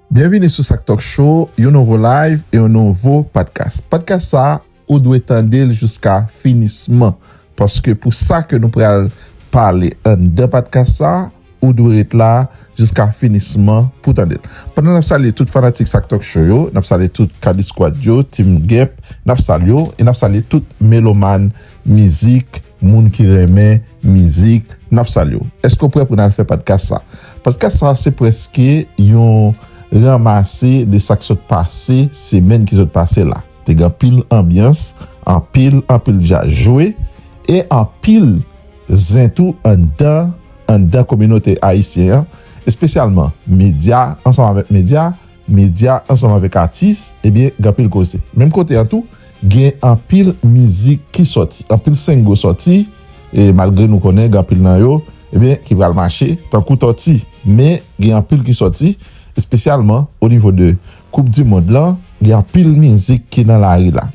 Byenvini sou Sak Talk Show, yon nouvo live e yon nouvo podcast. Podcast sa a, ou dwe tande l jiska finisman, paske pou sa ke nou pral pale anndan podcast sa a, ou dwe ret la jiska finisman pou tande l. Pandan n ap salye tout fanatik Sak Talk Show yo, n ap salye tout K-Disquad yo, Team Gep, n ap salye w e n ap salye tout melomàn mizik. Moun ki renmen mizik nap salye w. Eske w prè pou nal fè padkas sa? Padkas sa se preske yon ranmase de sak sot pase semèn ki sot pase la. Te gen anpil anbyans, anpil anpil djaz jwe e anpil zen tou anndan anndan kominote ayisyen an espesyalman medya ansanm avèk medya. Medya ansanm avèk atis, ebyen gen anpil koze. Menm kote an tou, gen anpil mizik ki sòti, anpil sengo sòti, e malgre nou konnen gen anpil nan yo, ebyen ki pral mache tankou tòti. Men gen anpil ki sòti, espesyalman o nivo de koup di mond lan, gen anpil mizik ki nan lari la.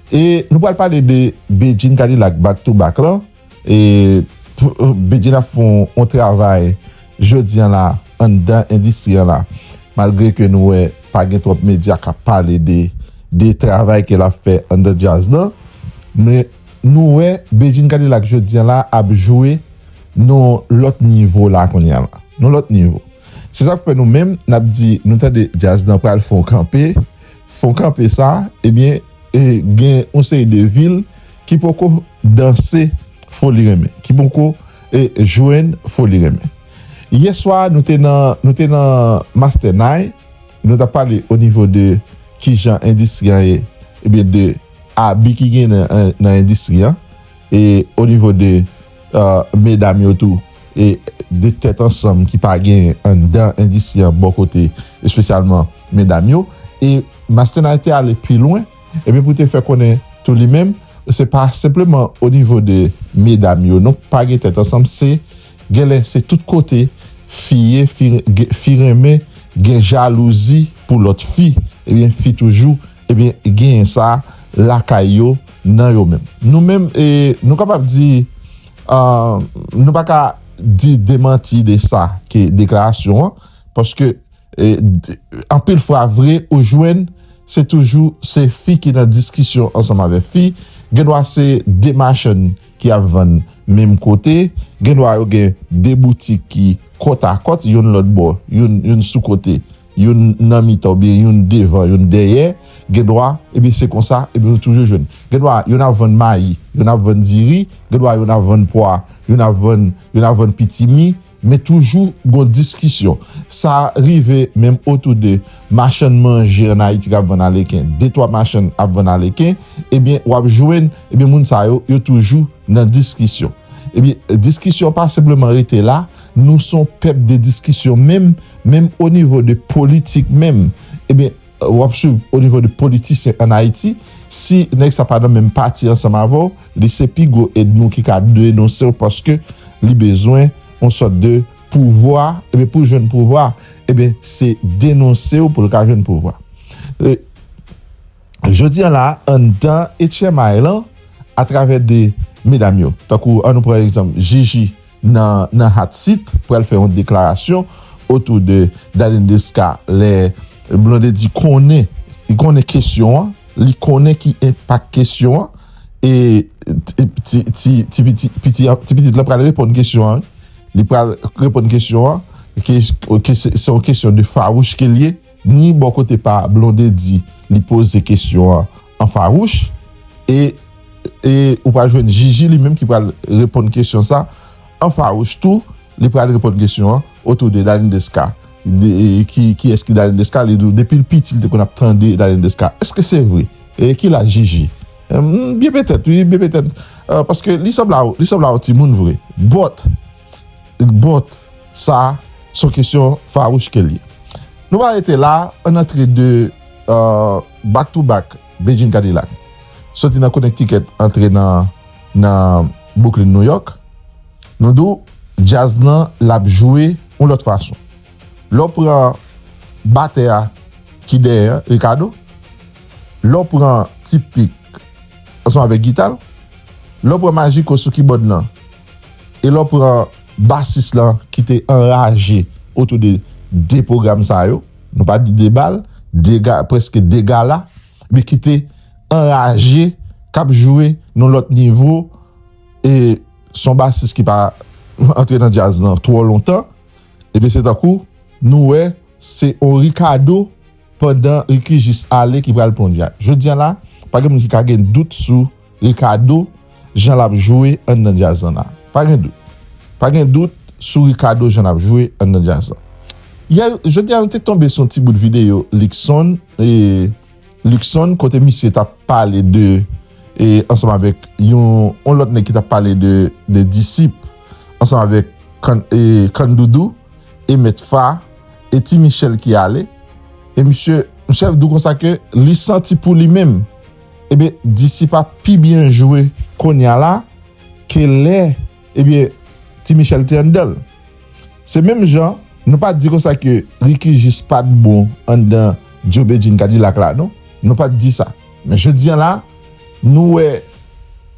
E nou pral pale de Bedjine Kadilak Back to Back lan, E Bedjine ap fè yon travay jodi an la anndan endistri an la malgre ke nou wè pa gen twòp medya k ap pale de travay ke l ap fè anndan djaz lan men nou wè Bedjine Kadilak jodi an la ap jwe nan yon lòt nivo la kounye a la nan yon lòt nivo se sa k fè nou menm n ap di nou tande djaz lan pral fè yon kanpe fè yon kanpe sa ebyen. E gen yon seri de vil ki poko danse Foli Renmen, ki poko jwenn Foli Renmen. Yè swa a nou te nan, nou te nan Mastènay, nou t ap pale o nivo de ki jan endistri an ye, ebyen de abi ki gen nan endistri an, e o nivo de medam yo tou. e 2 tèt ansanm ki pa gen anndan endistri an bò kote espesyalman medam yo e Mastenay te ale pi lwen ebyen pou te fè konnen tou li menm se pa senpleman o nivo de medam yo non pa gen tèt ansanm se genlè se tout kote fi ye fi renmen gen jalouzi pou lòt fi ebyen fi toujou ebyen genyen sa lakay yo nan yo menm nou menm e nou kapab di Nou pa ka di demanti de sa ke deklarasyon an, paske anpil fwa vre ou jwenn se toujou se fi ki nan diskisyon ansanm avèk fi, gen dwa se 2 machann ki ap vann menm kote, gen dwa yo gen 2 boutik ki kòtakòt, youn lòt bò, youn sou kote, youn nan mitan oubyen youn devan youn dèyè gendwa ebyen se konsa ebyen ou toujou jwenn gendwa youn ap vann mayi youn ap vann diri gendwa youn ap vann pwa youn ap vann youn ap vann pitimi men toujou gon diskisyon sa rive menm otou de machann manje an ayiti kap vann aleken de twa machann ap vann aleken ebyen wap jwenn ebyen moun sa yo yo toujou nan diskisyon ebyen diskisyon pa senpleman rete la. Nou son pèp de diskisyon menm menm o nivo de politik menm ebyen wap swiv o nivo de politisyen an Ayiti si nèg sa pa nan menm pati ansanm avèw li se pi gwo edmi w ki ka denonsew paske li bezwen on sòt de pouvwa ebyen poul jwenn pouvwa ebyen se denonsew poul ka jwenn pouvwa e jodi an la anndan etchèmay lan atravè de medam yo tankou an nou pran egzanp jiji nan nan hot seat pral fè yon deklarasyon otou de Darline Desca lè Blondedy konnen li konnen kesyon an li konnen ki enpak kesyon an e ti ti ti piti piti an ti pitit lan pral reponn kesyon an wi li pral reponn kesyon an ke ke se se yon kesyon de fawouch ke l ye. Ni bò kote pa Blondedy li poze kesyon an an fawouch e e ou pral jwenn Jiji li menm ki pral reponn kesyon sa an fawouch tou li pral reponn kesyon an otou de Dalindeska ki kiyès ki Dalindeska li di w depi l piti li te konn ap tande Dalindeska èske se vre e ki laj Jiji Hum byen petèt wi byen petèt paske li sanble a w li sanble a w timoun vre but. But sa son kesyon fawouch ke l ye. Nou pa rete la, ann antre 2 back to back Beijing Cadillac soti nan Connecticut antre nan Brooklyn New York. Nou di w djaz lan l ap jwe yon lòt fason. Lè w pran batè a ki dèyè an, Ricardo, lè w pran T-Pic ansanm avèk gita l, lè w pran Magico sou kibòd lan, E lè w pran basis lan ki te anraje otou de 2 pwogram sa yo, nou pa di 2 bal, 2 ga, prèske 2 gala, men ki te anraje, k ap jwe nan lòt nivo, e s on basis ki pa antre nan djaz lan twò lontan, ebyen se tankou nou wè se on Ricardo. Pandan Ricky jis ale ki pral Ponya. Jodia la pa gen moun ki ka gen dout sou Ricardo jan lap jwe anndan djaz lan la. Pa gen dout. Pa gen dout sou Ricardo jan lap jwe anndan djaz lan. Yè jodia nou te tonbe sou yon ti bout videyo Luckson e Luckson kote misye tap pale de e ansanm avèk yon yon lòt nèg ki tap pale de de Disip ansanm avèk Can e Can Doudou. e met fa e ti michel ki ale e misye misye vdou konsa ke li santi pou li menm ebyen disip ap pi byen jwe konya la ke lè ebyen ti michel te anndanl se menm jan nou pa di konsa ke ricky jis pat bon anndan djo bedjine kadilak la non nou pat di sa men jodi an la. Nou wè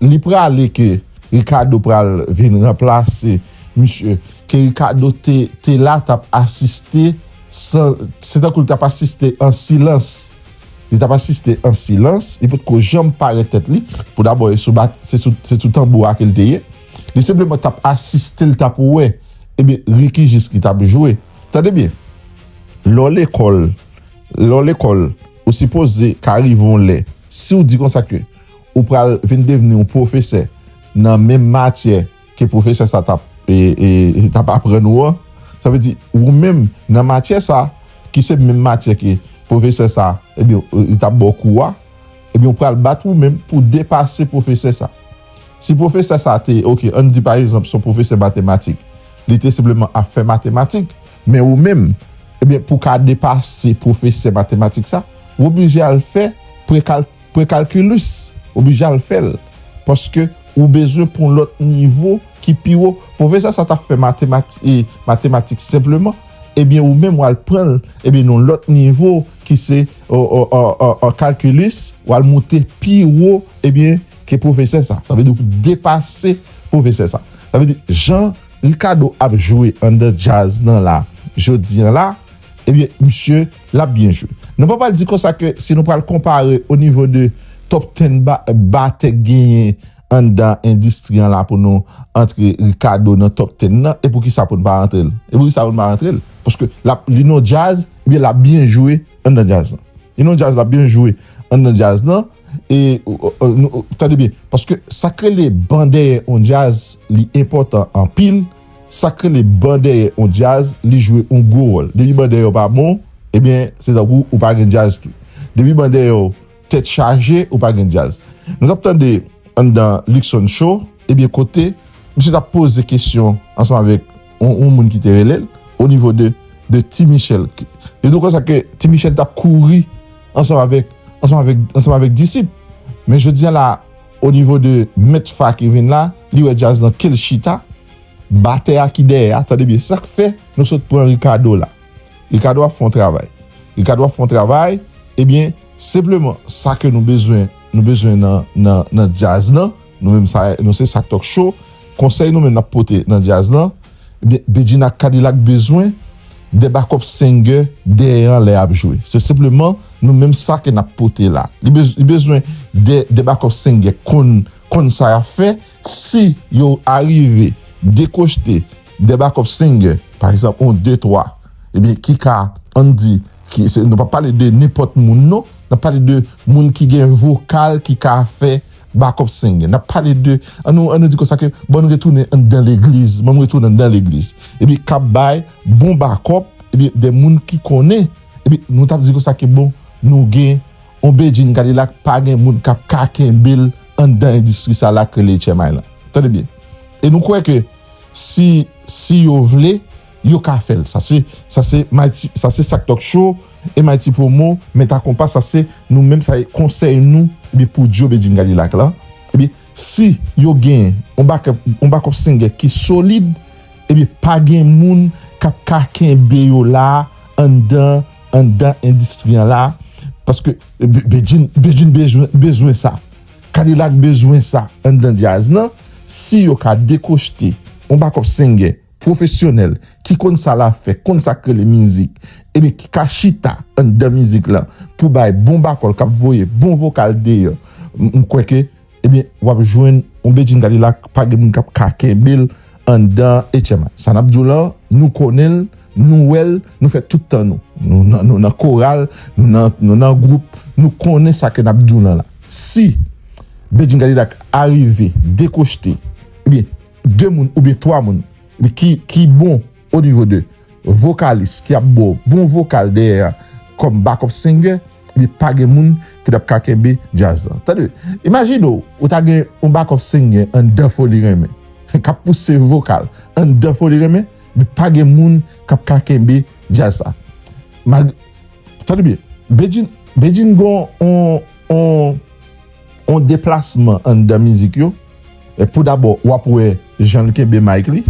li prale ke Ricardo pral vin ranplase misye ke Ricardo te la tap asiste san se tankou li tap asiste an silans li tap asiste an silans li potko janm parèt tèt li pou dabò e sou bat se sou tanbou a ke li te ye li senpleman tap asiste li tap wè ebyen Ricky jis ki tap jwe tande byen lè w lekòl lè w lekòl. Ou sipoze ka rive yon lè, si w di konsa ke ou pral vin devni yon pwofesè nan menm matyè ke pwofesè sa tap tap aprann ou an, sa vle di ou menm nan matyè sa ki se menm matyè ke pwofesè sa ebyen li tap ba w kou a, ebyen ou pral bat ou menm pou depase pwofesè sa. Si pwofesè sa te, ok, an n di pa egzanp se yon pwofesè matematik, li te senpleman ap fè matematik, Men ou menm, ebyen pou w ka depase pwofesè matematik sa, w oblije al fè prekalkilus, w oblije al fè l, paske ou bezwen pou yon lòt nivo ki pi wo. Pwofesè sa ta fè matematik senpleman, ebyen ou menm w al pran l, ebyen nan yon lòt nivo ki se kalkilus, w al moute pi wo, ebyen ke pwofesè sa. Sa vle di ou depase pwofesè sa. Sa vle di jan. Ricardo ap jwe andan djaz nan la jodi an la ebyen misye lap byen jwe nan papa l di konsa ke si nou pral konpare o nivo de top ten batè k genyen andan endistri an la pou nou antre Ricardo nan top ten nan e poukisa pou n pa antre l e poukisa pou n pa antre l paske lap li nan djaz ebyen lap byen jwe andan djaz nan li nan djaz lap byen jwe andan djaz nan. E tande byen, paske sa k rele ban dèyè on djaz li enpòtan anpil, sa k rele ban dèyè on djaz li jwe on gwo wòl. Depi ban dèyè w pa bon, ebyen se tankou ou pa gen djaz tou. Depi ban dèyè w tèt chaje, ou pa gen djaz. Nou t ap tande anndan Luckson Show, ebyen kote misye t ap poze kesyon ansanm avèk. yon moun ki te rele l o nivo de de Ti Michel. Li di w konsa ke Ti Michel t ap kouri ansanm avèk ansanm avèk ansanm avèk disip. Men jodi a la a o nivo de Mèt Fa ki vin la, li wè djaz lan ke l chita, batè a ki dèyè a. Tande byen, sa k fè nou sot pran Ricardo la. Ricardo ap fè yon travay. Ricardo ap fè yon travay, ebyen senpleman sa ke nou bezwen nou bezwen nan nan nan djaz lan. Nou menm sa nou se Sak Talk Show, konsèy nou menm nap pote nan djaz lan, ebyen Bedjine ak Kadilak bezwen 2 backup singer dèyè an lè yap jwe. Se senpleman nou menm sa ke nap pote la. Li bezwen 2 backup singer konn konn sa yap fè, si yo arive dekochte 2 backup singer, pa egzanp on 2 3, ebyen ki ka ann di ki nou pap pale de nenpòt moun non, nap pale de moun ki gen vokal ki ka fè. Bakòp Sengè. N ap pale de, an nou an nou di konsa ke bann retounen anndan legliz, banm retounen anndan legliz. Ebyen k ap bay bon bakòp, ebyen de moun ki konnen, ebyen nou t ap di konsa ke bon nou gen on Bedjine Cadillac pa gen moun k ap ka kenbe l anndan endistri sa la k rele Etchèmay lan. Tande byen. E nou kwè ke si, si yo vle. Yo ka fèl sa se sa se mighty sa se sak talk show e mighty promo men ta konpa sa se nou menm sa e konsèy nou ebyen pou djo bedjine kadilak lan ebyen si yo gen on back on back up singer ki solid ebyen pa gen moun kap ka kenbe yo la anndan anndan endistri an la paske bedjine bedjine bezwen bezwen sa kadilak bezwen sa anndan djaz lan si yo ka dekochte on back up singer. Pwofesyonèl, ki konn sa l ap fè, konn sa k rele mizik, ebyen ki ka chita anndan mizik lan pou bay bon bakòl k ap voye bon vokal deyò, m kwè ke ebyen w ap jwenn yon Bedjine Cadillac pa gen moun k ap ka kenbe l anndan HMI. Sa n ap di w lan, nou konnen l, nou wè l, nou fè tout tan nou. Nou nan koral, nou nan gwoup, nou konnen sa ke n ap di w lan la. Si Bedjine Cadillac arive dekochte, ebyen. 2 moun oubyen 3 moun ki bon o nivo de vokalis ki ap baw bon vokal dèyè a kòm bakòp sengè li pa gen moun ki tap ka kenbe djaz lan tande imajine w ou ta gen yon bakòp sengè anndan foli renmen kap pouse vokal anndan foli renmen li pa gen moun kap ka kenbe djaz sa mal tande byen bedjine bedjine gon yon yon deplasman anndan mizik yo. e pou dabò wap wè janl kenbe mic li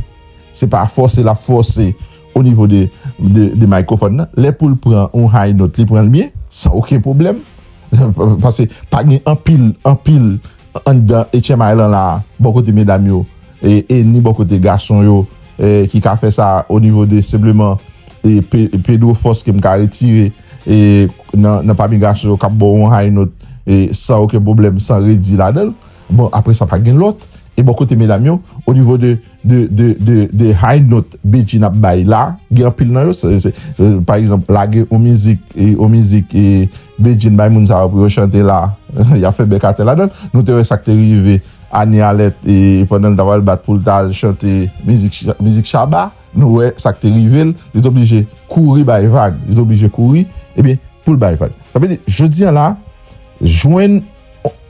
se pa fòse lap fòse o nivo de de microphone nan lè poul pran yon high note li pranl byen san oken pwoblèm pase pa gen anpil anpil anndan HMI lan la bò kote medam yo e ni bò kote gason yo ki ka fè sa o nivo de senpleman Pedro fòs kem ka retire e nan pami gason yo kap baw yon high note e san oken pwoblèm san redi ladanl Bon apre sa pa gen lòt e bò kote medam yo o nivo de de high note Bedjine ap bay la gen anpil nan yo se pa egzanp lage on mizik e on mizik e Bedjine bay moun sa yo pou yo chante la yap fè bèk atè ladann nou te wè sak te rive Annie Alert e pandan l ta pral bat pou l ta al chante mizik mizik Shabba nou wè sak te rive l li te oblije kouri bay vag li te oblije kouri ebyen pou l bay vag sa vle di jodi an la jwenn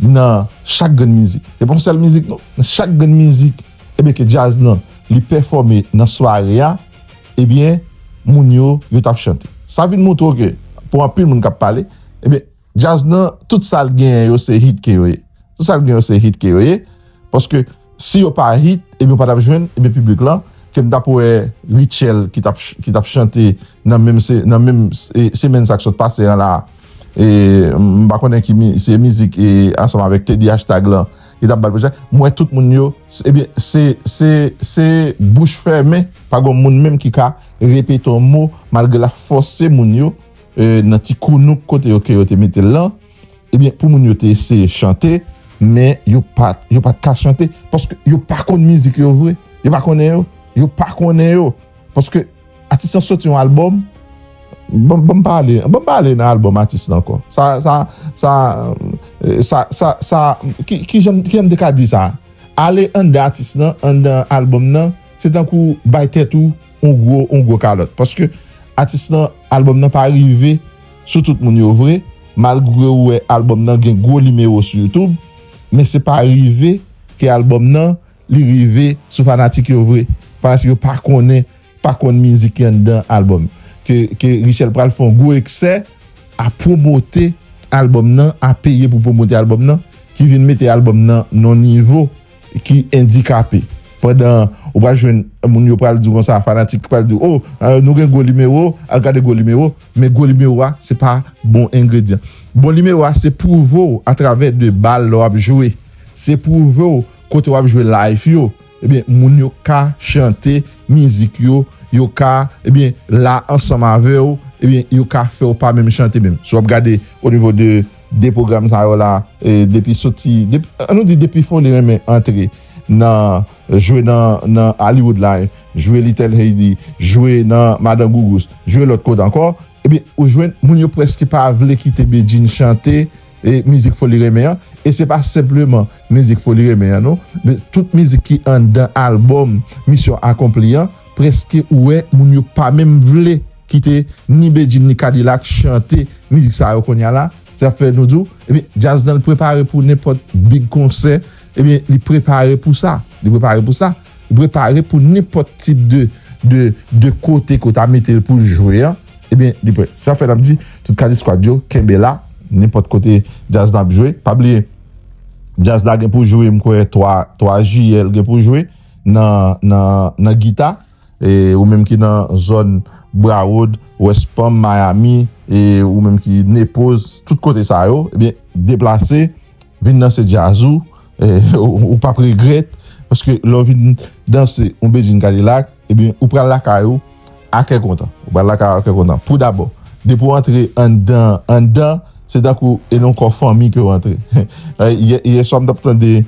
Nan chak grenn mizik. Se pa yon sèl mizik non. Nan chak grenn mizik ebyen ke djaz lan li pèfòme nan sware a ebyen moun yo yo tap chante. Sa vin moutre w ke pou anpil moun kap pale ebyen djaz lan tout sa l genyen yo se hit ke yo ye. Tout sa l genyen yo se hit ke yo ye. paske si yo pa hit ebyen yo pa tap jwenn ebyen piblik lan kem tap wè Rutshelle ki tap chante nan menm semèn sa k sot pase an la m pa konnen ki se mizik ansanm avèk Teddy Hashtag lan ki tap bat m wè tout moun yo ebyen se bouch fèmen pa gon moun menm ki ka repete yon mo malgre lap fòse moun yo nan ti kounouk kote yo ke yo te mete l lan. Ebyen pou moun yo te eseye chante men yo pat yo pat ka chante paske yo pa konn mizik yo vre yo pa konnen yo yo pa konnen yo paske atis lan soti yon album bon banm pale banm pale nan album atis lan ankò sa sa sa sa sa sa kijan kijan m te ka di sa ale anndan atis lan anndan album nan se tankou bay tèt ou yon gwo yon gwo kalòt paske atis lan album nan pa rive sou tout moun yo vre malgre ou wè album nan gen gwo nimewo sou youtube men se pa rive ke album nan li rive sou fanatik yo vre paske yo pa konnen pa konn mizik ki anndan album ke ke Rutshelle pral fè yon gwo eksè a pwomote album nan a peye pou pwomote album nan ki vin mete album nan nan yon nivo. ki endikape pandan ou pral jwenn moun yo pral di w konsa fanatik pral di w o nou gen gwo nimewo al gade gwo nimewo men gwo nimewo a se pa bon engredyan bon nimewo a se pwouve w atravè de bal lè w ap jwe se pwouve w kote w ap jwe live yo ebyen moun yo ka chante mizik yo yo ka ebyen la ansanm avè w ebyen yo ka fè w pa menm chante menm si w ap gade onivo de. 2 pwogram sa yo la depi soti an nou di depi Foley renmen antre nan jwe nan Hollywood la jwe Little Haiti jwe nan Madan Gougous jwe lòt kote ankò ebyen ou jwenn moun yo prèske pa vle kite Bedjine chante mizik Foley renmen an e se pa senpleman mizik Foley renmen an non men tout mizik ki anndan albòm Misyon Akonpli an prèske ou wè moun yo pa menm vle kite ni Bedjine ni K-dilak chante mizik sa yo konya la, se ap fè nou di w ebyen djaz lan li prepare pou nenpòt big konsè ebyen li prepare pou sa, li prepare pou sa, li prepare pou nenpòt tip de de de kote ke w ta mete l pou l jwe an ebyen li prè. Se sa k fè n ap di tout K-disquad yo kenbe la nenpòt kote djaz lan ap jwe pa bliye djaz la gen pou jwe m kwè 3 3 jiyè l gen pou jwe nan nan nan Gita. E ou menm ki nan zòn Broward, West Palm, Miami, e ou menm ki Naples, tout kote sa yo, ebyen deplase vin danse djaz ou, ou pap regrèt, paske lè ou vin danse yon Bedjine Cadillac, ebyen ou pral lakay ou a kè kontan. Ou pral lakay ou a kè kontan. Pou dabò, depi ou antre anndan, anndan, se tankou e nan yon kò fanmi ke ou antre. Yè swa m tap tande.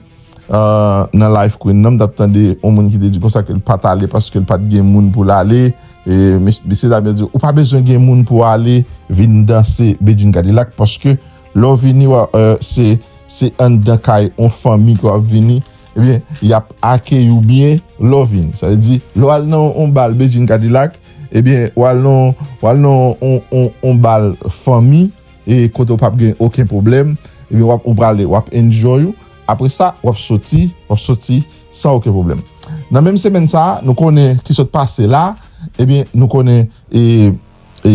Nan live Queen nan m tap tande yon moun ki te di konsa ke l pat ale paske l pat gen moun pou l ale mesye dam yo di l ou pa bezwen gen moun pou w ale vin danse Bedjine Cadillac paske lè w vini se anndan kay yon fanmi ke w ap vini ebyen y ap akeyi w byen lè w vini sa vle di lè w al nan yon bal Bedjine Cadillac ebyen w al nan yon bal fanmi. e kote ou pap gen oken pwoblèm ebyen wap ou prale wap enjoy ou apresa wap soti wap soti san oken pwoblèm nan menm semèn sa nou konnen ki sot pase la ebyen nou konnen e e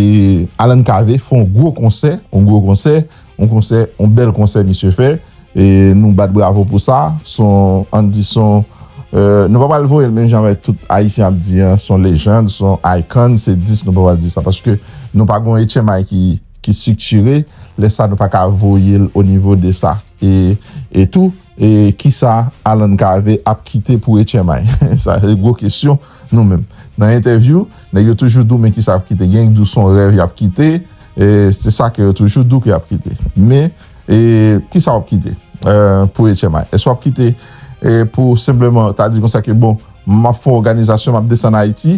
Alan Cavé fè yon gwo konsè yon gwo konsè yon konsè yon bèl konsè misye fè e nou bat bravo pou sa son ann di son e nou pa pral voyel menm jan avèk tout ayisyen ap di an son lejand son icon se 10 nou pa pral di sa paske nou pa gon etchemay ki. ki striktire lè sa nou pa ka voye l o nivo de sa e tou e kisa Alan Cavé ap kite pou etchèmay sa se gwo kesyon nou menm nan entèvyou nèg yo toujou di w men kisa y ap kite genyen k di w son rèv y ap kite e se sa ke yo toujou di w ke y ap kite men e kisa w ap kite pou etchèmay èske w ap kite pou senpleman ta di konsa ke bon m ap fè w oganizasyon m ap desann ayiti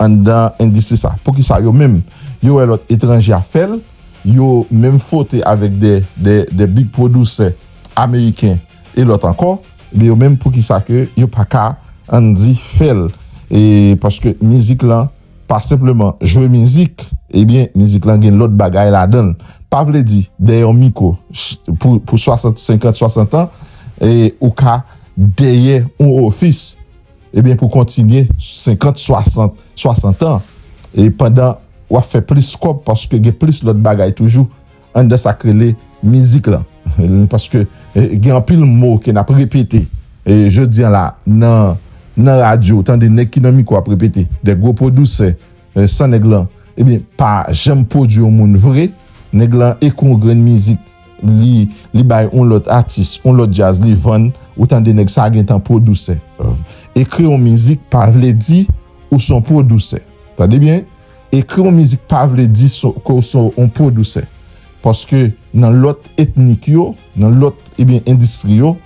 Anndan endistri sa. Poukisa yo menm yo wè lòt etranje ap fè l, yo menm fwote avèk dè dè dè big pwodusè ameriken e lòt ankò, ebyen yo menm poukisa ke yo pa ka ann di fè l e paske mizik lan pa senpleman jwe mizik ebyen mizik lan gen lòt bagay ladan l. Pa vle di dèyè yon mikwo pou pou swasant senkant swasant an e ou ka dèyè yon ofis. Ebyen pou kontinye 50 60 60 an e pandan wap fè plis kòb paske gen plis lòt bagay toujou anndan sak rele mizik lan paske gen anpil mo ke nap repete jodi an la nan nan radyo ou tande nèg ki nan mikwo ap repete de gwo pwodusè san nèg lan ebyen pa janm pwodui yon moun vre nèg lan ekri yon grenn mizik li li bay on lòt atis on lòt djaz li vann ou tande nèg sa gentan pwodousè ekri on mizik pa vle di ou son pwodousè tande byen ekri on mizik pa vle di ke ou son on pwodousè paske nan lòt etnik yo nan lòt ebyen endistri yo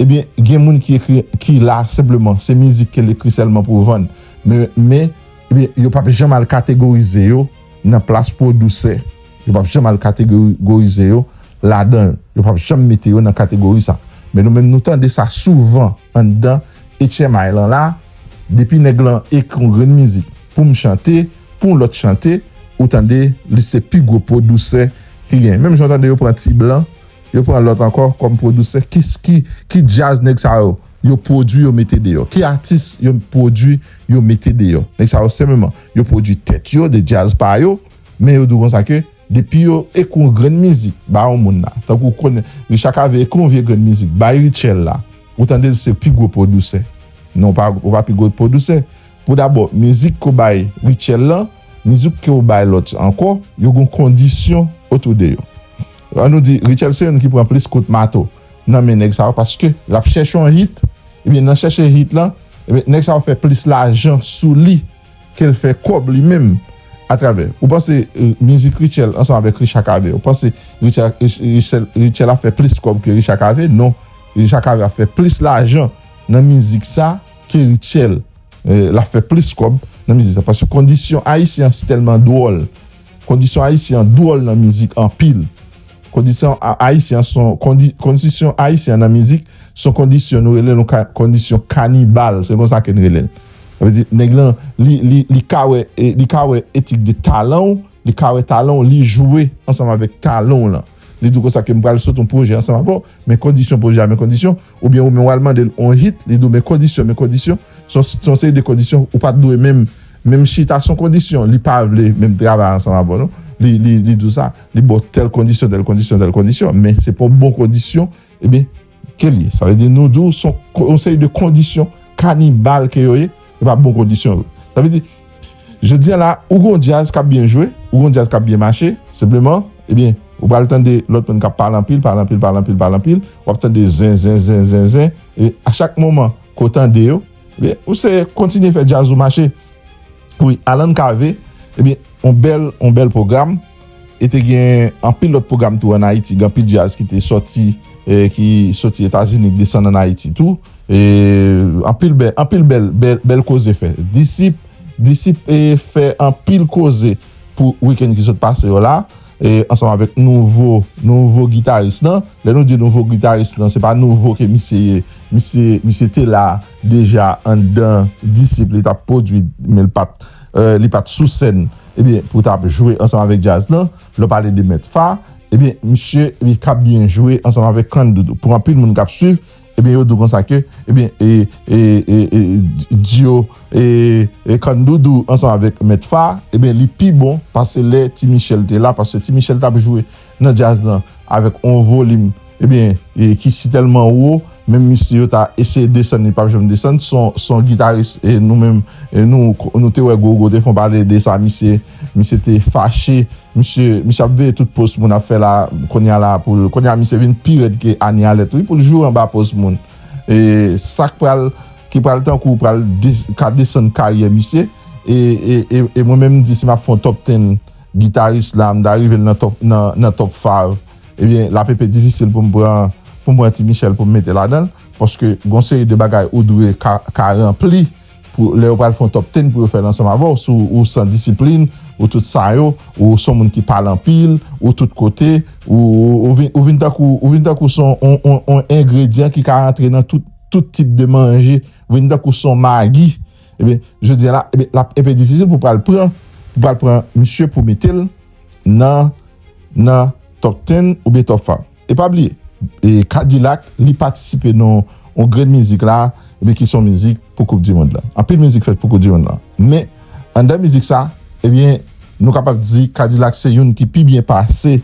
ebyen gen moun ki ekri ki la senpleman se mizik ke l ekri sèlman pou vann men men ebyen yo pap janm al kategorize yo. nan plas pou yo dousè, yo pap janm al kategorize yo ladan l, yo pap janm mete yo nan kategori sa. Men nou menm nou tande sa souvan anndan HMI lan la, depi nèg lan ekri yon grenn mizik pou m chante, pou yon lòt chante, ou tande li se pi gwo pwodousè ki genyen. Menm jan w tande yo pran T-Blan, yo pran lòt ankò kòm pwodousè, ki djaz nèg sa yo? yo pwodwi yo mete deyò ki atis yo pwodwi yo mete deyò nèg sa yo senpleman yo pwodwi tèt yo de djaz pa yo men yo di w konsa ke depi yo ekou yon grenn mizik ba yon moun la tankou w konnen Richard Cavé ekou yon vye grenn mizik bay Rutshelle la ou tande l se pi gwo pwodousè non w pa w pa pi gwo pwodousè pou dabò mizik ke w bay Rutshelle lan mizik ke w bay lòt ankò yo gen yon kondisyon otou de yo an nou di Rutshelle se youn ki pran plis kout mato. nan men nèg sa yo paske lap chèche yon hit ebyen nan chèche hit lan ebyen nèg sa yo fè plis lajan sou li kel fè kòb li menm atravè ou panse mizik Rutshelle ansanm avèk Richard Cavé ou panse Rutshelle ap fè plis kòb ke Richard Cavé non Richard Cavé ap fè plis lajan nan mizik sa ke Rutshelle lap fè plis kòb nan mizik sa paske kondisyon ayisyen an si tèlman dwòl. Kondisyon ayisyen an dwòl nan mizik anpil Kondisyon ayisyen an son Kondisyon ayisyen an nan mizik son kondisyon nou rele l yon kondisyon kanibal se konsa ke n rele l sa vle di nèg lan li ka wè li ka wè etik de talan w li ka wè talan w li jwe ansanm avèk talan w lan li di w konsa ke m pral sot yon pwojè ansanm avè w men kondisyon pwojè a men kondisyon. oubyen ou menm wal mandel on hit li diw men kondisyon men kondisyon son seri de kondisyon ou pat dwe menm menm chita son kondisyon li pa vle menm travay ansanm avèw non li diw sa li baw tèl kondisyon tèl kondisyon tèl kondisyon men se pa yon bon kondisyon ebyen kel ye sa vle di nou diw son seri de kondisyon kanibal ke yo ye se pa bon kondisyon yo sa vle di. Jodi a la, ou gen yon djaz k ap byen jwe, ou gen yon djaz k ap byen mache, senpleman, ebyen, ou pral tande lòt moun k ap pale anpil, pale anpil, pale anpil, pale anpil, w ap tande zen, zen, zen, zen, zen, e a chak moman ke w tande yo, ebyen, ou se kontinye fè djaz ou mache. Wi, Alan Cavé, ebyen, yon bèl, yon bèl pwogram. E te gen anpil lòt pwogram tou an Ayiti. Gen anpil djaz ki te sòti, ki sòti Etazini, ki desann an Ayiti tou. E anpil bèl, anpil bèl, bèl koze fè. Disip, disip e fè anpil koze pou wikenn ki sot pase yo la. E ansanm avèk nouvo, nouvo gitaris nan. Lè nou di nouvo gitaris nan, se pa nouvo ke misye ye. Misye, misye te la deja anndan disip li tap pwodui men li pat, li pat sou sèn. ebyen pou tap jwe ansanm avèk djaz lan lè w pale de mèt Fa ebyen misye li ka byen jwe ansanm avèk Can Doudou pou anpil moun kap swiv ebyen yo di w konsa ke ebyen dyo Can Doudou ansanm avèk mèt Fa ebyen li pi bon pase lè Ti Michel te la paske Ti Michel tap jwe nan djaz lan avèk on volim ebyen ki si tèlman wo menm misye yo ta eseye desann li pap janm desann son gitaris e nou menm nou te wè Gogo te fon pale de sa misye misye te fache misye misye ap veye tout post moun ap fè la konnya la poul konnya misye vin pi rèd ke Ani Alèt wi poul joure anba post moun e sak pral ki pral tankou pral ka desann karyè misye e mwen menm m di si map fon top ten. Guitarist la m ta rive l nan top five ebyen lap enpe difisil pou m pran pou m pran ti Michel pou m mete ladan l paske gon seri de bagay ou dwe ka ranpli pou lè yo pral fè yon top ten pou yo fè l ansanm avè w si ou san disiplin ou tout sa yo ou son moun ki pale anpil ou tout kote ou vin tankou ou vin tankou son yon engredyan ki ka rantre nan tout tip de manje ou vin tankou son magi. Ebyen, jodi a la, ebyen, l ap enpe difisil pou pral pran, pou pral pran misye pou mete l nan, nan top ten oubyen top fav. E pa bliye, e K-Dilak li patisipe nan yon grenn mizik la, ebyen ki se yon mizik pou koup di mond lan. Anpil mizik fèt pou koup di mond lan. Men, anndan mizik sa, ebyen, nou kapab di K-Dilak se youn ki pi byen pase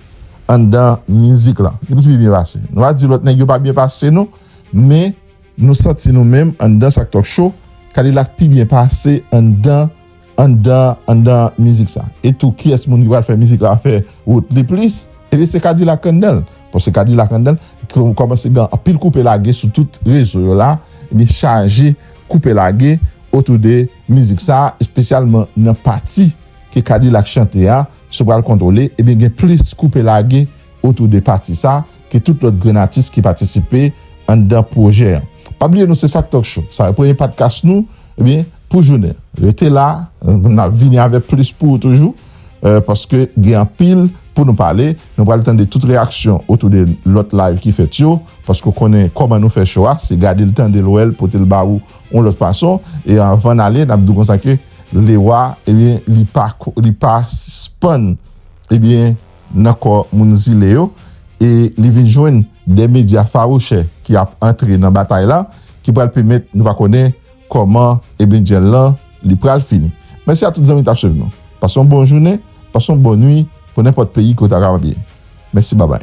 anndan mizik lan. Youn ki pi byen pase. Nou pa di lòt nèg yo pa byen pase non, men. Nou santi nou menm anndan sak talk show kadilak pi byen pase anndan anndan anndan mizik sa e tou kiyès moun ki pral fè mizik la a fè wout li plis ebyen se kadilak anndanl paske kadilak anndanl kòmanse gen anpil koupe lage sou tout rezo yo la li chaje koupe lage otou de mizik sa espesyalman nan pati ke kadilak chante a sou pral kontwole ebyen gen plis koupe lage otou de pati sa. ke tout lòt grenn atis ki patisipe anndan pwojè an. Pa bliye nou se sak Talk Show, sa premye padkas nou ebyen pou jounen an. Rete la, nap vini avèk plis pou ou toujou, paske gen anpil pou nou pale. Nou pral tande tout reyaksyon otou de lòt live ki fèt yo, paske ou konnen kòman nou fè show a, se gade l, tande l, wè l, pote l ba ou yon lòt fason. E anvan n ale, nap di w konsa ke Lewa ebyen li pa sispann ebyen. nan kò moun zile yo e li vin jwenn de medya fawouchè ki ap antre nan batay la ki pral pèmèt nou pa konnen kòman ebndjèl lan li pral fini. Mèsi a tout zanmi ki t ap swiv nou. Pase yon bon jounen, pase yon bon nwi pou nenpòt peyi kote w kapab ye. Mèsi babay.